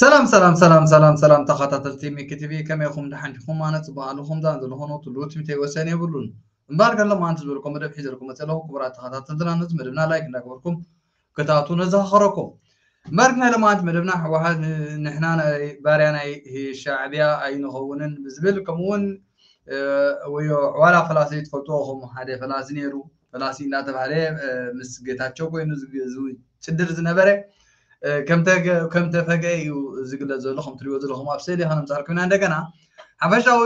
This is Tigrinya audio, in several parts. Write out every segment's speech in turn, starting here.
ሰላም ሰላም ሰላም ሰላም ሰላም ተኸታተልቲ ሚኪ ቲቪ ከመይ ኢኹም ደሓን ዲኹም ኣነ ፅቡቅ ኣለኹም ዛን ዘለኾኑ ትሉ ትምተይ ወሰን የብሉን እምበር ገሎም ኣንቲ ዝበልኩም መደብ ሒዘልኩም መፅለው ክቡራት ተኸታተልትና ነዚ መደብና ላይክ እንዳገበርኩም ክትኣትዉ ነዘኻኽረኩም። መርገ ልምዓት መደብና ህወሓት ንሕና ባርያ ናይ ሻዕብያ ኣይንኸውንን ብዝብል ከምኡ እውን ወዮ ዕዋላ ፈላሲ ትፈልጥዎ ኹም ሓደ ፈላሲ ነይሩ ፈላሲ እንዳተባህለ ምስ ጌታቸው ኮይኑ ዝጭድር ዝነበረ ከም ተፈገ እዩ ዝግለጽ ዘሎ ከም ትሪእዎ ዘለኹም ኣብ ስእሊ ከነምጻልኩም ኢና እንደገና ሓፈሻዊ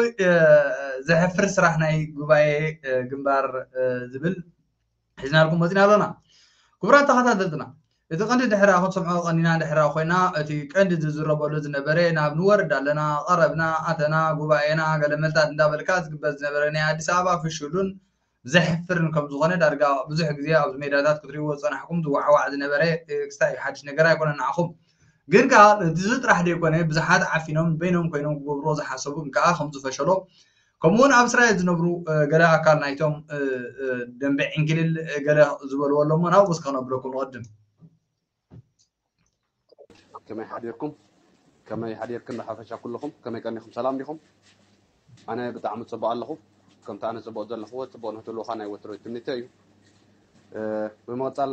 ዘሕፍር ስራሕ ናይ ጉባኤ ግንባር ዝብል ሒዝናልኩም መፂና ኣሎና ክቡራት ተኸታተልትና እቲ ቀንዲ ድሕራ ክንሰምዖ ቀኒና ድሕራ ኮይና እቲ ቀንዲ ዝዝረበሉ ዝነበረ ናብ ንወርድ ኣለና ቐረብና ኣተና ጉባኤና ገለመልታት እንዳበልካ ዝግበር ዝነበረ ናይ ኣዲስ ኣበባ ፍሹሉን ዘሕፍርን ከምዝኾነ ዳርጋ ብዙሕ ግዜ ኣብዚ ሜዳታት ክትሪእዎ ዝፀናሕኩም ዝዋዕዋዕ ዝነበረ ክስታይ ሓድሽ ነገር ኣይኮነን ንዓኹም ግን ከዓ እዚ ጥራሕ ዘይኮነ ብዙሓት ዓፊኖም በይኖም ኮይኖም ክገብርዎ ዝሓሰቡ ግን ከዓ ከምዝፈሸሎ ከምኡ እውን ኣብ እስራኤል ዝነብሩ ገለ ኣካል ናይቶም ደንበ ዕንኪልል ገለ ዝበልዎ ኣሎ እሞ ናብኡ እስከ ክነብረኩም ንቕድም ከመይ ሓዲርኩም ከመይ ሓዲርክን ብሓፈሻ ኩልኹም ከመይ ቀኒኹም ሰላም ዲኹም ኣነ ብጣዕሚ ፅቡቅ ኣለኹ ከምቲ ኣነ ፅቡቅ ዘለኹዎ ፅቡቅ ንክትህልወካ ናይ ወትሮ ትምኒተ እዩ ብምቕፃል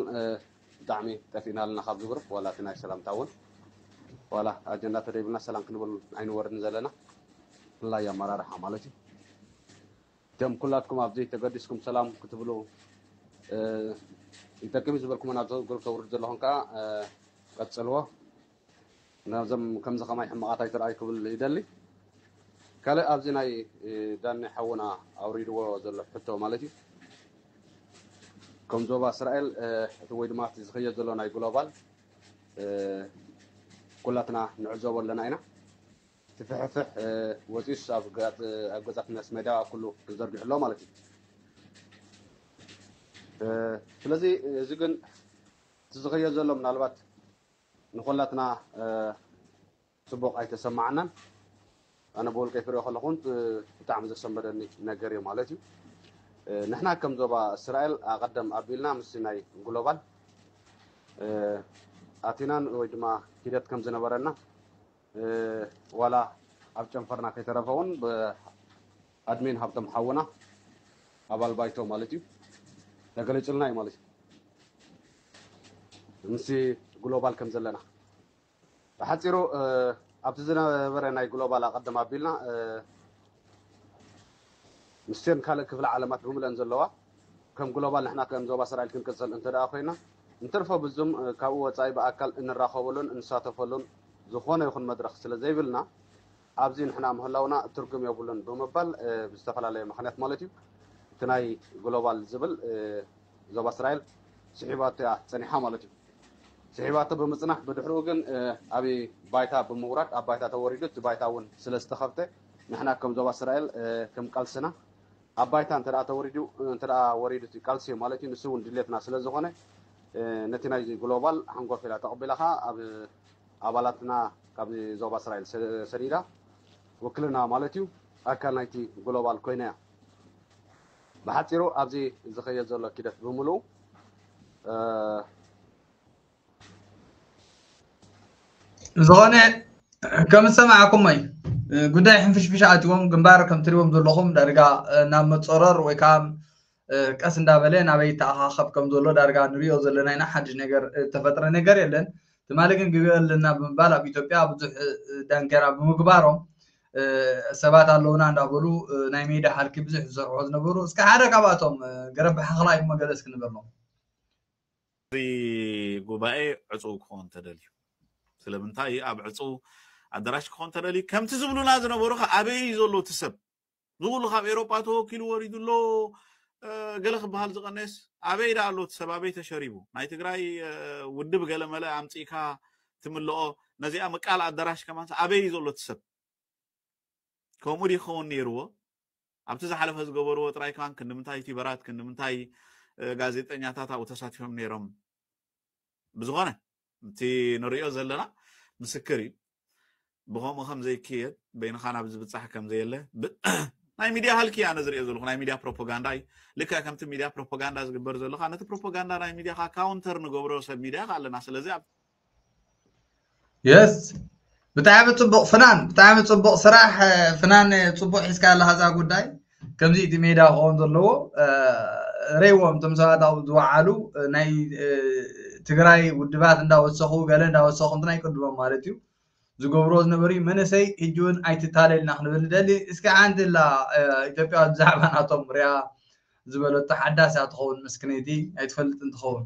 ብጣዕሚ ጠፊእና ኣለና ካብ ዝብርብ ዋላ እቲ ናይ ሰላምታ እውን ዋላ ኣጀንዳ ተደይብልና ሰላም ክንብል ኣይንወርድን ዘለና ብፍላይ ኣመራርሓ ማለት እዩ እቶም ኩላትኩም ኣብዚ ተገዲስኩም ሰላም ክትብሉ ይጠቅም ዝበልኩምን ኣብዚ ግሩፕ ተውርዱ ዘለኹም ከዓ ቀፅልዎ ናብዞም ከምዚ ከማይ ሕማቃት ኣይትርኣይ ክብል ይደሊ ካልእ ኣብዚ ናይ ዳኒ ሓውና ኣውሪድዎ ዘሎ ሕቶ ማለት እዩ ከም ዞባ እስራኤል እቲ ወይ ድማ እቲ ዝኸየድ ዘሎ ናይ ግሎባል ኩላትና ንዕዘቦ ኣለና ኢና እቲ ፍሕፍሕ ወፂኡስ ኣብ ገዛት መስ ሜዳ ኩሉ ተዘርጊሑ ኣሎ ማለት እዩ ስለዚ እዚ ግን እቲ ዝኸየድ ዘሎ ምናልባት ንኮላትና ጽቡቅ ኣይተሰማዓናን ኣነ ብውልቀይ ክሪኦ ከለኩ ውን ብጣዕሚ ዘሰንበደኒ ነገር ኢዩ ማለት ኢዩ ንሕና ከም ዞባ እስራኤል ኣቀደም ኣቢልና ምስ ናይ ግሎባል ኣቲናን ወይ ድማ ሂደት ከም ዝነበረና ዋላ ኣብ ጨንፈርና ከይተረፈ ውን ብኣድሚን ሃብቶም ሓውና ኣባል ባይቶ ማለት እዩ ተገሊፁልና እዩ ማለት እዩ ምስ ግሎባል ከም ዘለና ብሓፂሩ ኣብቲ ዝነበረ ናይ ግሎባል ኣቐድም ኣቢልና ምስቲን ካልእ ክፍለ ዓለማት ብምልእን ዘለዋ ከም ግሎባል ንሕና ከም ዞባ ሰራይል ክንቅጽል እንተደኣ ኮይና እንትርፎ ብዙም ካብኡ ወጻኢ ብኣካል እንራኸበሉን እንሳተፈሉን ዝኾነ ይኹን መድረኽ ስለ ዘይብልና ኣብዚ ንሕና ምህላውና ትርጉም የብሉን ብምባል ብዝተፈላለየ ምኽንያት ማለት እዩ እቲ ናይ ግሎባል ዝብል ዞባ ሰራይል ስሒባቶ እያ ጸኒሓ ማለት እዩ። ስሒባቶ ብምጽናሕ ብድሕርኡ ግን ኣብ ባይታ ብምውራድ ኣብ ባይታ ተወሪዱ እቲ ባይታ እውን ስለ ዝተኸፍተ ንሕና ከም ዞባ እስራኤል ከም ቃልስና ኣብ ባይታ እንተ ተወሪዱ እንተ ወሪዱ እቲ ቃልሲ እዩ ማለት እዩ ንሱ እውን ድሌትና ስለ ዝኾነ ነቲ ናይዚ ግሎባል ሓንጎፍ ኢላ ተቐቢላ ከዓ ኣብ ኣባላትና ካብ ዞባ እስራኤል ሰዲዳ ውክልና ማለት እዩ ኣካል ናይቲ ግሎባል ኮይና እያ ብሓፂሩ ኣብዚ ዝኸየድ ዘሎ ኪደት ብምልኡ ዝኾነ ከም ዝሰማዕኩሞ እዩ ጉዳይ ሕንፍሽፍሽ ኣትዎም ግንባር ከም ትሪዎም ዘለኹም ዳርጋ ናብ መፀረር ወይ ከዓ ቀስ እንዳበለ ናበይ ተኣኻኸብ ከም ዘሎ ዳርጋ ንሪኦ ዘለና ኢና ሓድሽ ነገር ዝተፈጥረ ነገር የለን ትማሊ ግን ግብኦ ኣለና ብምባል ኣብ ኢትዮጵያ ብዙሕ ዳንኬራ ብምግባሮም ሰባት ኣለውና እንዳበሉ ናይ ሜዳ ሃልኪ ብዙሕ ዝሰርሑ ዝነበሩ እስከ ሓደ ካብኣቶም ገረብ ሓኽላ እዩ መገለ እስኪ ንበሎም እዚ ጉባኤ ዕጹው ክኾን ተደልዩ ስለምንታይ እዩ ኣብ ዕጹው ኣደራሽ ክኾን ተደልዩ ከምቲ ዝብሉና ዝነበሩ ከ ኣበይ እዩ ዘሎ እቲ ሰብ ዝኩሉ ካብ ኤሮጳ ተወኪሉ ወሪዱ ኣሎ ገለ ክበሃል ዝቀነየስ ኣበይ ዳ ኣሎ እቲ ሰብ ኣበይ ተሸሪቡ ናይ ትግራይ ውድብ ገለ መለ ኣምፂእካ ትምልኦ ነዚኣ ምቃል ኣደራሽ ከማንስ ኣበይ እዩ ዘሎ እቲ ሰብ ከምኡ ዲ ክኸውን ነይርዎ ኣብቲ ዝሓለፈ ዝገበርዎ ጥራይ ከማን ክንድምንታይ ዩቲበራት ክንድምንታይ ጋዜጠኛታት ኣብኡ ተሳቲፎም ነይሮም ብዝኾነ እቲ ንሪኦ ዘለና ምስክር እዩ ብከምኡ ከም ዘይክየድ በይንኻ ናብ ዝብፃሕ ከም ዘየለ ናይ ሚድያ ሃልኪ ኣነ ዝሪኦ ዘለኹ ናይ ሚድያ ፕሮፓጋንዳ እዩ ልክዕ ከምቲ ሚድያ ፕሮፓጋንዳ ዝግበር ዘለካ ነቲ ፕሮፓጋንዳ ናይ ሚድያካ ካውንተር ንገብሮ ሰብ ሚድያ ኣለና ስለዚ የስ ብጣዕሚ ፅቡቅ ፍናን ብጣዕሚ ፅቡቅ ስራሕ ፍናን ፅቡቅ ሒዝካ ኣለካ እዛ ጉዳይ ከምዚ እቲ ሜዳ ክኸውን ዘለዎ ረይዎም እቶም ሰባት ኣብኡ ዝወዓሉ ናይ ትግራይ ውድባት እንዳወሰኹ ገለ እንዳወሰኹ እንትን ኣይቅድሞም ማለት እዩ ዝገብሮ ዝነበሩ መንእሰይ ሕጂ እውን ኣይትታለልና ክንብል ንደሊ እስኪ ሓንቲ ላ ኢትዮጵያ ብዛዕባ ናቶም ሪኣ ዝበለቶ ሓዳስ እያ ትኸውን ምስክነይቲ ኣይትፈልጥን ትኸውን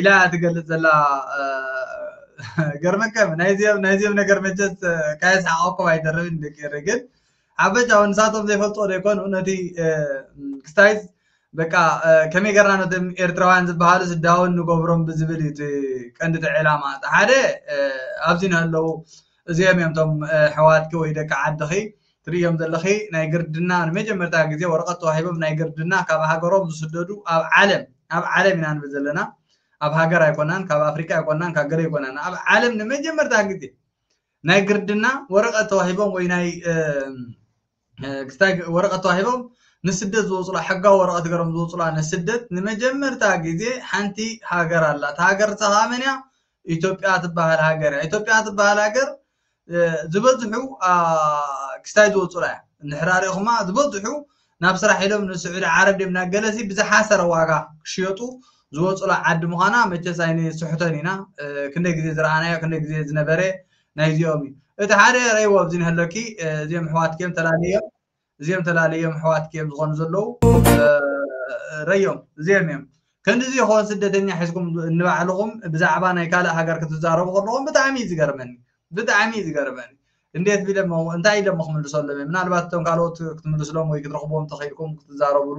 ኢላ ትገልጽ ዘላ ገርመከም ናይዚኦም ናይዚኦም ነገር መቸስ ካየስሓቐኩም ኣይተርፍን ደቂ ኤረይ ግን ሓበሻ እውን ንሳቶም ዘይፈልጥዎ ዘይኮኑ ነቲ ክስታይዝ በቃ ከመይ ገርና ነቶም ኤርትራውያን ዝበሃሉ ስዳውን ንገብሮም ብዝብል እዩ እቲ ቀንዲ እቲ ዕላማ እቲ ሓደ ኣብዚ ንህለው እዚኦም እዮም እቶም ሕዋትኪ ወይ ደቂ ዓድኺ ትርእዮም ዘለኺ ናይ ግርድና ንመጀመርታ ግዜ ወረቀት ተዋሂቦም ናይ ግርድና ካብ ሃገሮም ዝስደዱ ኣብ ዓለም ኣብ ዓለም ኢና ንብል ዘለና ኣብ ሃገር ኣይኮናን ካብ ኣፍሪቃ ኣይኮናን ካብ ገለ ኣይኮናን ኣብ ዓለም ንመጀመርታ ግዜ ናይ ግርድና ወረቀት ተዋሂቦም ወይ ናይ ክስታይ ወረቀት ተዋሂቦም ንስደት ዝወፅላ ሕጋዊ ወረቀት ገሮም ዝወፅላ ንስደት ንመጀመርታ ግዜ ሓንቲ ሃገር ኣላ እታ ሃገር ንሳ ከዓ መን እያ ኢትዮጵያ ትበሃል ሃገር እያ ኢትዮጵያ ትበሃል ሃገር ዝበዝሑ ክስታይ ዝወፁላ እያ እንድሕራ ሪእኹማ ዝበዝሑ ናብ ስራሕ ኢሎም ንስዑዲ ዓረብ ድዮም ናብ ገለ ሲ ብዝሓሰረ ዋጋ ክሽየጡ ዝወፁላ ዓዲ ምዃና መቸስ ኣይንስሕቶን ኢና ክንደይ ግዜ ዝረኣናዮ ክንደይ ግዜ ዝነበረ ናይዚኦም እዩ እቲ ሓደ ረይዎ ኣብዚ ንህለኪ እዚኦም ኣሕዋትኪ እዮም ተላለዮም እዚኦም ተላለዮም ኣሕዋትኪ እዮም ዝኾኑ ዘለዉ ረዮም እዚኦም እዮም ከንድዚ ይኾን ስደተኛ ሒዝኩም ንባዕልኹም ብዛዕባ ናይ ካልእ ሃገር ክትዛረቡ ከለኹም ብጣዕሚ እዩ ዝገርመኒ ብጣዕሚ እዩ ዝገርመኒ እንዴት ቢለሞ እንታይ ኢለሞ ክምልሰሎም እየ ምናልባት እቶም ካልኦት ክትምልስሎም ወይ ክትረኽብዎም ተኽኢልኩም ክትዛረብሉ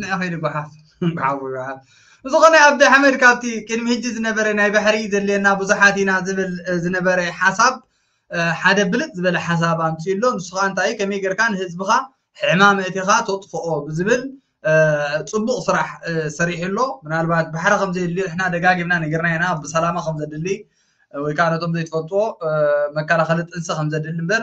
ንዕ ኸይዲ ጓሓፍ ጓሓፍ ጓሓፍ ዝኾነ ኣብዲ ኣሕመድ ካብቲ ቅድሚ ህጂ ዝነበረ ናይ ባሕሪ ዘድልየና ብዙሓት ኢና ዝብል ዝነበረ ሓሳብ ሓደ ብልፅ ዝበለ ሓሳብ ኣምፅኡ ኣሎ ንሱ ከዓ እንታይ ከመይ ጌርካ ንህዝብኻ ሕማም እቲኻ ተጥፍኦ ብዝብል ፅቡቕ ስራሕ ሰሪሑ ኣሎ ምናልባት ባሕሪ ከም ዘየድልዮ ንሕና ደጋጊምና ነገርና ኢና ብሰላማ ከም ዘድሊ ወይ ከዓ ነቶም ዘይትፈልጥዎ መከላኸሊ ጥንሲ ከም ዘድሊ እምበር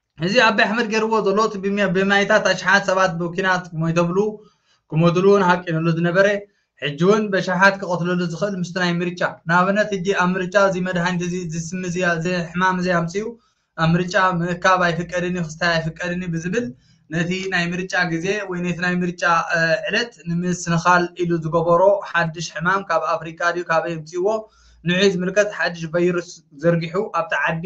እዚ ኣቢ ኣሕመድ ገይርዎ ዘሎ እቲ ብማይታት ኣሽሓት ሰባት ብኲናት ሞይተብሉ ክሞትሉ እውን ሃቂንሉ ዝነበረ ሕጂ እውን በሽሓት ክቐትለሉ ዝኽእል ምስቲ ናይ ምርጫ ንኣብነት ሕጂ ኣብ ምርጫ እዚ መድሃኒት እዚ እዚ ስሚ እዚ እዚ ሕማም እዚ ኣምፅኡ ኣብ ምርጫ ምእካብ ኣይፍቀድን እዩ ክስታይ ኣይፍቀድን እዩ ብዝብል ነቲ ናይ ምርጫ ግዜ ወይ ነቲ ናይ ምርጫ ዕለት ንምስንኻል ኢሉ ዝገበሮ ሓድሽ ሕማም ካብ ኣፍሪቃ ድዩ ካበይ ኣምፅእዎ ንዑይ ዝምልከት ሓድሽ ቫይረስ ዘርጊሑ ኣብቲ ዓዲ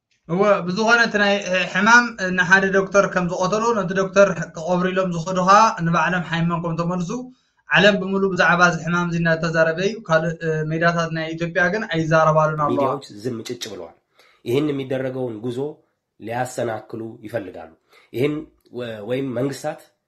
እወ ብዝኾነ እቲ ናይ ሕማም ንሓደ ዶክተር ከም ዝቐተሎ ነቲ ዶክተር ክቐብሩ ኢሎም ዝኸዱ ከዓ ንባዕሎም ሓይሞም ከም ተመልሱ ዓለም ብምሉ ብዛዕባ እዚ ሕማም እዚ እናተዛረበ እዩ ካልእ ሜዳታት ናይ ኢትዮጵያ ግን ኣይዛረባሉን ኣለዋ ሚዲያዎች ዝም ጭጭ ብለዋል ይህን የሚደረገውን ጉዞ ሊያሰናክሉ ይፈልጋሉ ይህን ወይም መንግስታት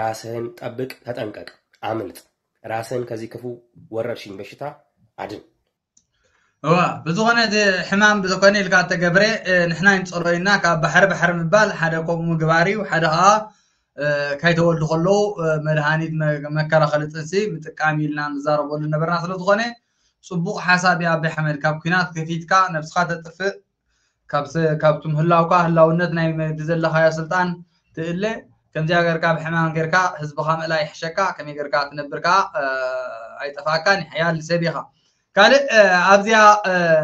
ራስህን ጠብቅ ተጠንቀቅ ኣምልጥ ራስህን ከዚ ክፉ ወረርሽኝ በሽታ ኣድን። እወ ብዝኾነ እዚ ሕማም ብዝኾነ ኢልካ ተገብረ ንሕና ይንጸሎ ኢና ካብ ባሕሪ ባሕሪ ምባል ሓደ ከምኡ ምግባር እዩ ሓደ ከዓ ከይተወልዱ ከለዉ መድሃኒት መከላኸሊ ጥንሲ ምጥቃም ኢልና ንዛረበሉ ነበርና ስለ ዝኾነ ጽቡቕ ሓሳብ እዩ ኣቢ ኣሕመድ ካብ ኩናት ከፊትካ ነብስኻ ተጥፍእ ካብቲ ምህላውካ ህላውነት ናይ መዲ ዘለኻዮ ስልጣን ትእለ ከምዚኣ ገርካ ብሕማም ገርካ ህዝብኻ ምእላይ ይሕሸካ ከመይ ገርካ ትነብር ከዓ ኣይጠፋእካን ሕያል ሰብ ኢኻ ካልእ ኣብዚያ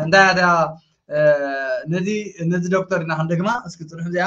እንታይ ነዚ ነዚ ዶክተር ኢና ክንደግማ እስኪ ፅንሑ እዚኣ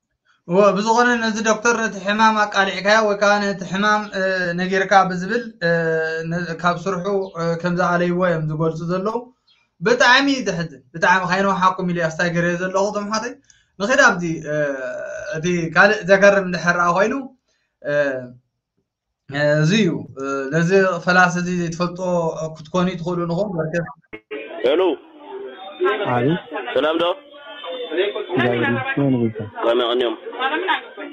እወ ብዝኾነ ነዚ ዶክተር ነቲ ሕማም ኣቃሊዕካዮ ወይ ከዓ ነቲ ሕማም ነጊርካ ብዝብል ካብ ስርሑ ከም ዝኣለይዎ እዮም ዝገልፁ ዘለዉ ብጣዕሚ እዩ ዘሕዝን ብጣዕሚ ካይነውሓኩም ኢሉ ኣስታይ ገረዮ ዘለኹ እቶም ሓተይ ንኺድ ኣብዚ እቲ ካልእ ዘገርም እንድሕር ኮይኑ እዚ እዩ ነዚ ፈላሲ እዚ ዘይትፈልጦ ክትኮኑ ትኽእሉ ንኹም በርከት ሄሎ አቤት ሰላም ዶ እግዚአብሔር ይመስገን ቤታ ከመይ ቀኒዮም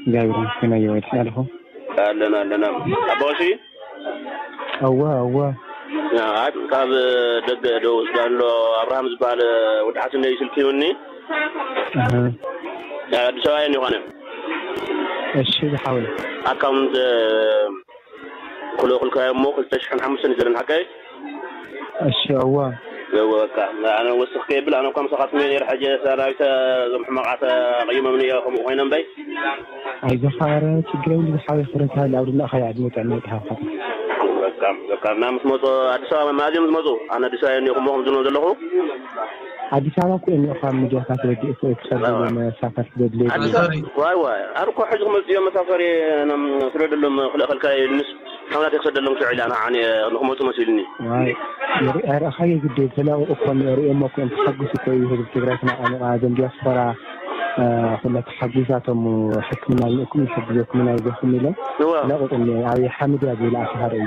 እግዚአብሔር ይመስገን አየ ወዲ ሳልፎ ኣለና ኣለና ኣባዋሽ አዋ አዋ ካብ ደገ ዶ ወስዳ ኣሎ ኣብርሃም ዝበሃል ወዲ ሓስነይ ስልኪ ይውኒ ኣሃ ናይ ኣዲስ ኣበባ የን ይኾነ እሺ ዝሓወይ። ኣካውንት ክልእኩልካ እሞ ክልተ ሽሕን ሓሙሽተን እዩ ዘለኒ ሓቀይ? እሺ እወ። እወ በቃ ኣነ ወስኽ ከየብል ኣነ እኳ ምሳኻ ስሚዐ ነይረ ሕጂ ሰራዊት እዞም ሕማቓት ኣቐይሞምኒ እዮ ከምኡ ኮይኖም እምበይ። ኣይዞኻ ኣረ ችግር የብሉን ዝሓወይ ክብረት ይሃሊ ኣብ ድላእኻያ ዕድመ ጥዕና ይትሃብካ። በቃ በቃ እና ምስ መጹ ኣዲስ ኣበባ መኣዝዮም ዝመጹ? ኣነ ኣዲስ ኣበባ የን እየ እሞ ከምዚ ንብሎ ዘለኹ። ኣዲስ ኣበባ ኮይኑ እዃ ምድያታት ወዲ እፎይ ትቀርብሉ መሳፈርቲ ዘድልዮ ድዩ። ኣዲስ ዋይ ዋይ ኣብ እኮ ሕጂ ክመጹ እዮም መሳፈሪ ስደደሎም ክልእ ከልካ ኢልንስ ሓውናተይ ክሰደሎም ክልዕ ኢላ ንዓ ኣነ ንክመጹ መሲልኒ። ዋይ ንርኢ ኣርኣኻዮ ግዲ ተላኡ እኮ ርእዮሞ እኮ እዮም ተሓጉሱ እኮ እዩ ህዝቢ ትግራይ ተናቃኒቃ እዞም ድያስፖራ ኩላ ተሓጉሳቶም ሕክምና ልእኩም ንሕግዘኩም ኢና ይዘኹም ኢሎም ለቁጥኒ ኣብይ ሓምድ እያ ዝብል ኣስሃር እዩ።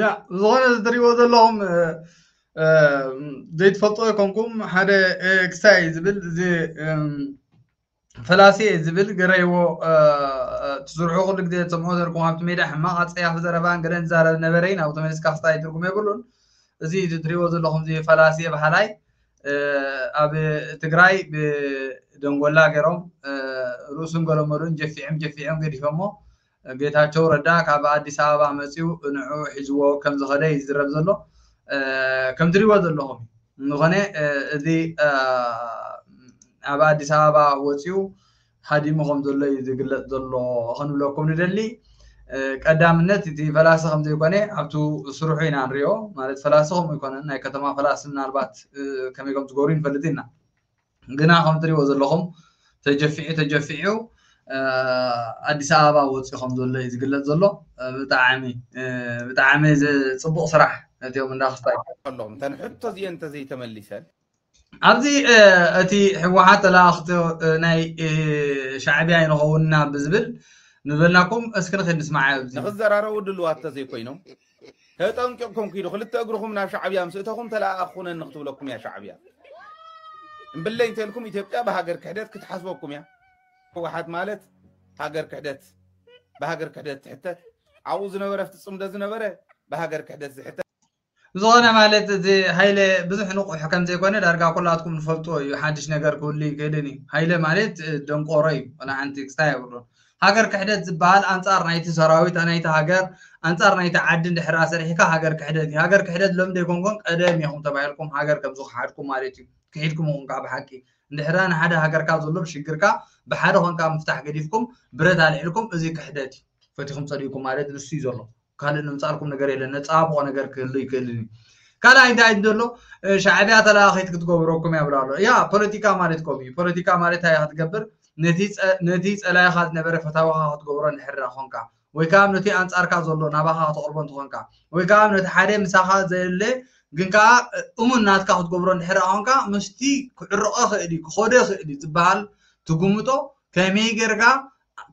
ያ ዝኾነ ዝትሪእዎ ዘለኹም ዘይትፈልጦ ይኮንኩም ሓደ ክሳይ ዝብል እዚ ፈላሲ ዝብል ገረይዎ ትስርሑ ኩሉ ግዜ ትሰምዑ ዘርኩም ኣብቲ ሜድያ ሕማቕ ኣፀያፊ ዘረባን ገለ ዝዛረብ ነበረ ናብ ተመሊስካ ክስታይ ትርጉም የብሉን እዚ ትሪእዎ ዘለኹም እዚ ፈላሲ በሃላይ ኣብ ትግራይ ብደንጎላ ገይሮም ርእሱን ገለመሉን ጀፊዕም ጀፊዕም ገዲፎሞ ጌታቸው ረዳ ካብ ኣዲስ ኣበባ መፂኡ ንዕዑ ሒዝዎ ከም ዝኸደ እዩ ዝዝረብ ዘሎ። ከም ትሪእዎ ዘለኹም እዩ። እንኾነ እዚ ኣብ ኣዲስ ኣበባ ወፂኡ ሃዲሙ ከም ዘሎ እዩ ዝግለፅ ዘሎ ኽንብለኩም ንደሊ። ቀዳምነት እቲ ፈላሲ ከም ዘይኮነ ኣብቱ ስርሑ ኢና ንሪኦ። ማለት ፈላሲ ከምኡ ኣይኮነን። ናይ ከተማ ፈላሲ ምናልባት ከመይ ከም ዝገብሩ ኣይንፈልጥን ኢና። ግና ከም እትሪእዎ ዘለኹም ተጀፊዑ ተጀፊዑ ኣዲስ ኣበባ ወፂኡ ከም ዘሎ እዩ ዝግለፅ ዘሎ ብጣዕሚ ብጣዕሚ ፅቡቕ ስራሕ ነቲኦም እንዳ ክስታይ ኣለኹም እተን ሕቶ እዚአን እንተዘይተመሊሰን ኣብዚ እቲ ህወሓት ተለኣኽቶ ናይ ሻዕብያ ይንኸውንና ብዝብል ንበልናኩም እስኪ ንኽንስማዕ ንኽዘራረቡ ድልዋት ተዘይኮይኖም ተጠንቂቕኩም ኪዱ ክልተ እግርኹም ናብ ሻዕብያ ምስ እተኹም ተለኣኣኽ ኹነኒ ክትብለኩም እያ ሻዕብያ እምብለይ እንተልኩም ኢትዮጵያ ብሃገር ክሕደት ክትሓስበኩም እያ ህወሓት ማለት ሃገር ክሕደት ብሃገር ክሕደት ትሕተት ኣብኡ ዝነበረ ፍቲ ፅምዶ ዝነበረ ብሃገር ክሕደት ዝሕተት ዝኾነ ማለት እዚ ሃይለ ብዙሕ ንቑሕ ከም ዘይኮነ ዳርጋ ኩላትኩም ንፈልጥዎ እዩ ሓድሽ ነገር ክህሉ ይክእልን እዩ ሃይለ ማለት ደንቆሮ እዩ ወላ ሓንቲ ክስታይ የብሉን ሃገር ክሕደት ዝባሃል ኣንጻር ናይቲ ሰራዊት ናይቲ ሃገር ኣንጻር ናይቲ ዓዲ እንድሕር ኣሰርሒካ ሃገር ክሕደት እዩ ሃገር ክሕደት ሎሚ ዘይኮንኩን ቀደም ኢኹም ተባሂልኩም ሃገር ከም ዝኸሓድኩም ማለት እዩ ክሒድኩም ኢኹም ከዓ ብሓቂ እንድሕራ ንሓደ ሃገርካ ዘሎ ሽግርካ ብሓደ ኮንካ ምፍታሕ ገዲፍኩም ብረት ኣልዒልኩም እዚ ክሕደት እዩ ፈቲኹም ጸሊእኩም ማለት ንሱ እዩ ዘሎ ካልእ ንምጻልኩም ነገር የለን ነጻብቆ ነገር ክህሉ ይክእልን እዩ ካልኣይ እንታይ እዩ ዘሎ ሻዕብያ ተለኣኺት ክትገብረኩም እያ ብላ ኣሎ ያ ፖለቲካ ማለት ከምኡ እዩ ፖለቲካ ማለት እንታይ ክትገብር ነቲ ጸላይኻ ዝነበረ ፈታዊኻ ክትገብሮ ንሕራ ኮንካ ወይ ከዓ ነቲ ኣንጻርካ ዘሎ ናባኻ ክትቕርቦ እንትኾንካ ወይ ከዓ ነቲ ሓደ ምሳኻ ዘየለ ግን ከዓ እሙን ናትካ ክትገብሮ እንድሕር ኮንካ ምስቲ ክዕርቐ ክእል እዩ ክኸደ ክእል እዩ ዝበሃል ትግምጦ ከመይ ጌርካ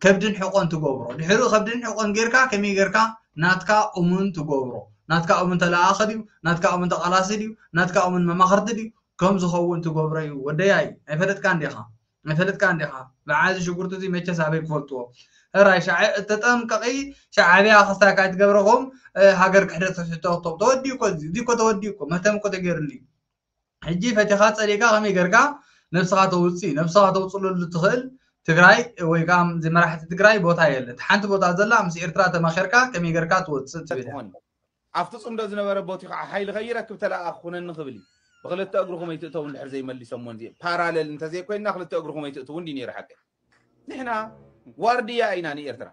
ከብድን ሕቆን ትገብሮ ድሕሪ ከብድን ሕቆን ጌርካ ከመይ ጌርካ ናትካ እሙን ትገብሮ ናትካ እሙን ተለኣኣኺ ድዩ ናትካ እሙን ተቓላሲ ድዩ ናትካ እሙን መማኽርቲ ድዩ ከም ዝኸውን ትገብሮ እዩ ወደያይ ኣይፈለጥካን ዲኻ ኣይፈለጥካን ዲኻ በዓዚ ሽጉርቲ እዚ መቸስ ኣበይ ክፈልጥዎ ሕራይ ተጠንቀቒ ሻዕብያ ክስታካ ኣይትገብረኹም ሃገር ክሕደት ክሕቶ ተወዲኡ እኮ እዚ እኮ ተወዲኡ እኮ መህተም እኮ ተገይሩሉ እዩ ሕጂ ፈቲኻ ጸሊእካ ከመይ ገርካ ነብስኻ ተውጽእ ነብስኻ ተውጽለሉ ትኽእል ትግራይ ወይ ከኣ እዚ መራሕቲ ትግራይ ቦታ የለ እቲ ሓንቲ ቦታ ዘላ ምስ ኤርትራ ተማኺርካ ከመይ ገርካ ትወጽእ ትብል እያ ኣብቲ ጽምዶ ዝነበረ ቦቲ ከዓ ሓይሊ ከይረክብ ተለኣኽ ኩነኒ ክብል እዩ ብክልተ እግሩ ከመይ ትእተው እንድሕር ዘይመሊሰሞ እንዚ ፓራለል እንተዘይኮይንና ክልተ እግሩ ከመይ ትእትው እንዲ ነይሩ ሓቂ ንሕና ዋርድያ ኢና ንኤርትራ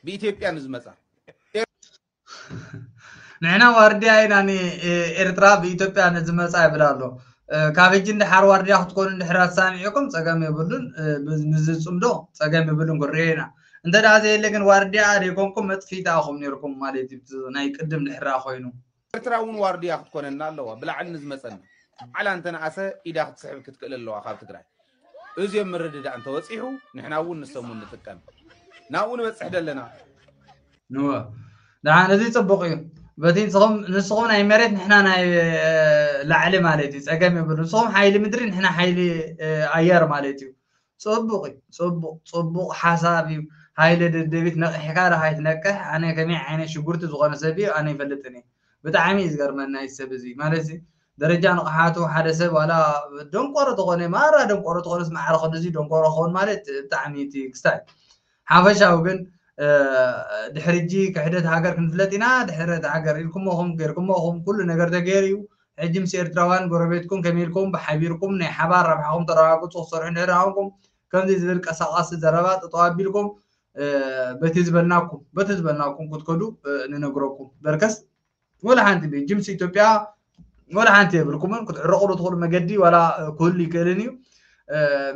ብኢትዮጵያ ንዝመፃ ንሕና ዋርድያ ኢና ንኤርትራ ብኢትዮጵያ ንዝመፃ ይብል ኣሎ ካብ ሕጂ እንድሓር ዋርድያ ክትኮኑ እንድሕር ኣሳኒዕኩም ፀገም የብሉን ንዝፅምዶ ፀገም የብሉን ክንሪኦ ኢና እንተ ደኣ ዘየለ ግን ዋርድያ ዘይኮንኩም መጥፊት ኣኹም ነርኩም ማለት እዩ ናይ ቅድም ድሕራ ኮይኑ ኤርትራ እውን ዋርድያ ክትኮነና ኣለዋ ብላዕሊ ንዝመፀና ባዕላ እንተነኣሰ ኢዳ ክትስሕብ ክትክእል ኣለዋ ካብ ትግራይ እዚ ኣብ ምርድዳእ እንተበጺሑ ንሕና እውን ንሶም እውን ንጥቀም ናብኡ ንበጽሕ ደለና። እወ ደሓን እዚ ጽቡቕ እዩ በቲ ንስኹም ናይ መሬት ንሕና ናይ ላዕሊ ማለት እዩ ጸገም የብሉ ንስኹም ሓይሊ ምድሪ ንሕና ሓይሊ ኣየር ማለት እዩ ጽቡቕ እዩ ጽቡቕ ጽቡቕ ሓሳብ እዩ ሃይለ ደደቢት ነቒሕካ ዶ ሃይትነቅሕ ኣነ ከመይ ዓይነት ሽጉርቲ ዝኾነ ሰብ እዩ ኣነ ይፈልጥን እየ ብጣዕሚ እዩ ዝገርመና እዚ ሰብ እዚ ማለት ደረጃ ንቕሓቱ ሓደ ሰብ ዋላ ደንቆሮ ተኾነ ማራ ደንቆሮ ተኾነስ ማዕረ ክንድዚ ደንቆሮ ክኸውን ማለት ብጣዕሚ እቲ ክስታይ ሓፈሻዊ ግን ድሕሪ ሕጂ ክሕደት ሃገር ክንፍለጥ ኢና ድሕረት ሃገር ኢልኩሞ ኹም ጌርኩሞ ኹም ኩሉ ነገር ተገይሩ እዩ ሕጂ ምስ ኤርትራውያን ጎረቤትኩም ከመይ ኢልኩም ብሓቢርኩም ናይ ሓባር ረብሓኹም ተረጋግጹ ክሰርሑ እንድሕር ኣኹንኩም ከምዚ ዝብል ቀሳቃሲ ዘረባ ጠጠው ኣቢልኩም በቲ ዝበልናኩም በቲ ዝበልናኩም ክትከዱ ንነግረኩም በርከስ ወላ ሓንቲ ጅምሲ ኢትዮጵያ ወላ ሓንቲ የብልኩምን ክትዕረቑሉ ትኽእሉ መገዲ ዋላ ክህሉ ይክእልን እዩ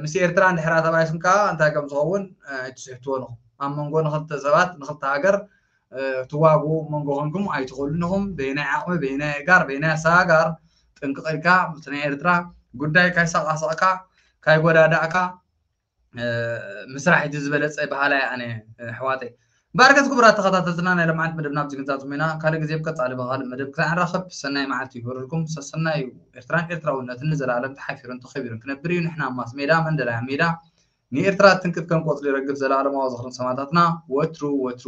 ምስ ኤርትራ ንድሕራ ተባይስም ከዓ እንታይ ከም ዝኸውን ኣይትስሕትዎ ንኹም ኣብ መንጎ ንክልተ ሰባት ንክልተ ሃገር ትዋጉ መንጎ ኮንኩም ኣይትኽእሉን ኢኹም በይናይ ዓቕሚ በይናይ እጋር በይናይ ኣሰጋጋር ጥንቅቕ ኢልካ ምስ ናይ ኤርትራ ጉዳይ ካይሰቃሰቕካ ካይጎዳዳእካ ምስራሕ እቲ ዝበለፀ በሃላይ ኣነ ኣሕዋተይ ባርከት ክቡራት ተኸታተልትና ናይ ለምዓት መደብና ኣብዚ ክንዛዝም ኢና ካልእ ግዜ ብቀፃሊ ብካልእ መደብ ክሳዕ ንራኸብ ሰናይ መዓልቲ ይግበረልኩም ሰሰናዩ ኤርትራን ኤርትራውነትን ንዘለኣለም ተሓፊሩን ተኸቢሩን ክነብር እዩ ንሕና ማስ ሜዳ መንደላይ ኣብ ሜዳ ንኤርትራ ትንክፍ ከም ቆፅሊ ረግፍ ዘለኣለማዊ ዝኽርን ሰማእታትና ወትሩ ወትሩ